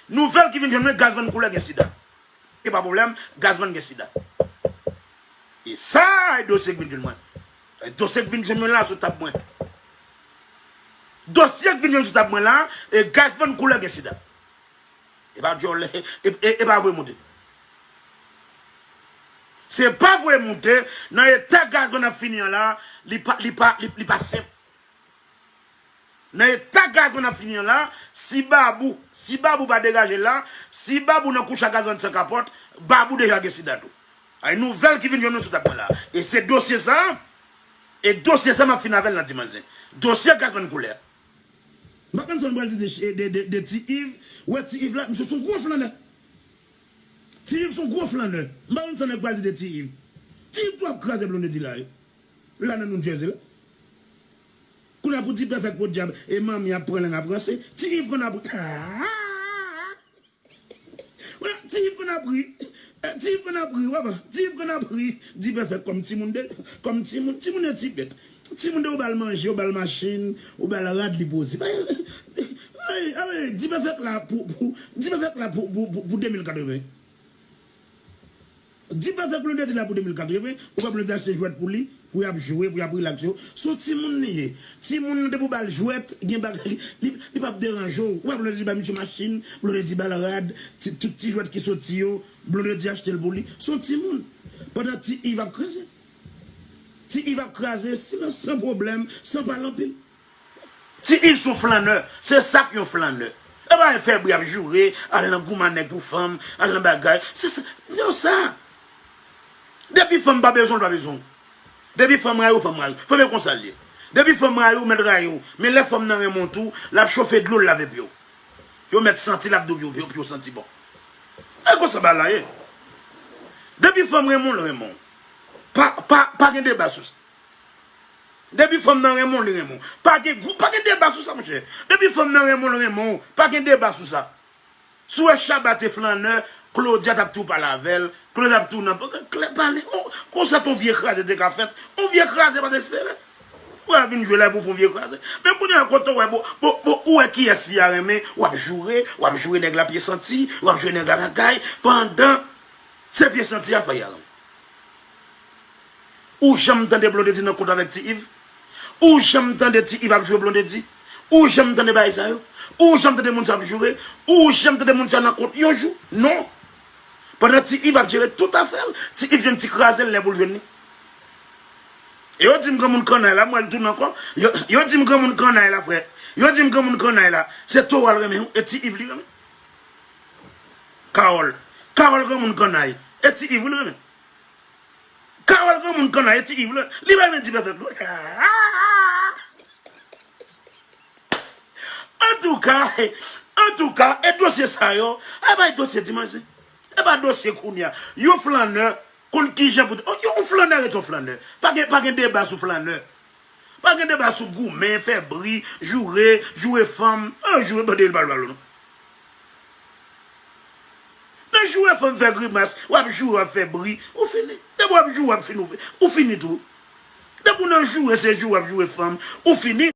Nouvel ki vin jwenn mwen Gazman koulè gen sida. Epa pwoblèm, Gazman gen sida. E sa e dosye ki vin jwenn mwen. E dosye ki vin jwenn mwen la sou tab mwen. Dosye ki vin jwenn sou tab mwen la, e Gazman koulè gen sida. Epa dyòl, epa voye moute. Se pa voye moute, nan eta Gazman ap fini an la, li pa senp, Nan eta gazman ap fini an la, si babou, si babou pa degaje la, si babou nan kouch a gazman san kapòt, babou deja gen sida tou. Ay nouvèl ki vin jwenn nou sou tab mwen la. E se dosye sa, e dosye sa map fini avèl nan dimanch zen. Dosye gazman koulè. M pa konn sa nou pral di de ti iv, ou wè ti iv la, misye son gwo flannè. Ti iv son gwo flannè. M pa konn sa nèg pral di de ti iv. Ti iv tou ap kraze blondedy la wi. Li la nan New Jersey la. Kounya pou ti pèfèk podyab e manmi ap pran lang ap ranse, ti Yves konn ap ri aahh Kounya ti Yves konn ap ri Ti Yves konn ap ri papa Ti Yves konn ap ri Di pèfèk kòm timoun de kòm timoun Timoun yo ti bèt Timoun de ou bal manje ou bal machin ou bal rad li poze Di pèfèk la pou Di pèfèk la pou pou pou 2080 Di pa fè blonde di la pou 2004 li vre ou wè blonde achte jwèt pou li pou yap jwe pou yap relax yo son timoun li ye timoun nan depi ou bal jwèt gen bagay li li pap deranje w ou wè blonde di ba misye machin blonde di bal rad ti tout ti jwèt ki soti yo blonde di achte l pou li son timoun pandan ti ive ap kraze ti ive ap kraze silans san pwoblèm san pale anpil. Ti Ive son flannè, se sak yon flannè. E pa fè bri ap joure, al nan gouman nèg pou fanm, al nan bagay. Se sa, non sa. Depi fanm pa bezwen w, l pa bezwen w. Depi fanm rayi w, fanm rayi w. Fanm e konsa l ye. Depi fanm rayi w, mèt rayi w. Men lè fanm nan renmen w tou, l ap chofe dlo l lave pye w. Yo mèt santi l ap dou pye w pou yo santi bon. E konsa bagay la ye. Depi fanm renmen w, l renmen w. Pa gen deba sou sa. Depi fanm nan renmen w li renmen w. Pa gen gwo, pa gen deba sou sa monchè. Depi fanm nan renmen w li renmen w. Pa gen deba sou sa. Si w wè Shabba te flannè, Claudia t ap tou pale avè l, Claudia t ap tou nan klèb pale. Konsa t on vye kraze te ka fèt. On vye kraze pa t espere. Ou wè l ap vin jwe la epi w fè on vye kraze. Men kounye a kote w wè bon, bon, bon ou wè kiyès fi a renmen, w ap joure, w ap joure nèg la pye santi, w ap joure nèg la bagay, pandan se pye santi a fè y al. Ou janm tande Blondedy nan kont avèk Ti Iv? Ou janm tande Ti Iv ap jwe Blondedy? Ou janm tande bagay sa yo? Ou janm tande moun sa ap joure? Ou janm tande moun sa nan kont yon jou? Non! Pandan Ti Iv ap jere tout afè l, Ti Iv jwenn ti kraze l lè pou l jwenn li. E yo di m granmoun kannay la, m wè l tounen ankò, yo di m granmoun kannay la frè, yo di m granmoun kannay la, se Towa l renmen wi, e Ti Iv li renmen. Carole, Carole granmoun kannay, e Ti Iv wi l renmen. Carole granmoun kanay ti Yves la li pa vle di pèpèp non Antouka Antouka e dosye sa yo a bay dosye ti manzè e pa dosye kounya yon flannè konn kijan pou yon flannè ret yon flannè pa gen deba sou flannè Pa gen deba sou goumen, fè bri, joure, joure fanm. Eyo joure bandi yo pa jwe ballon non. Nan joure fanm fè grimas, wap joure wap fè bri, ou fini. Depi wap joure wap fini ou fini tou. Depi ou nan joure se joure wap joure fanm, ou fini.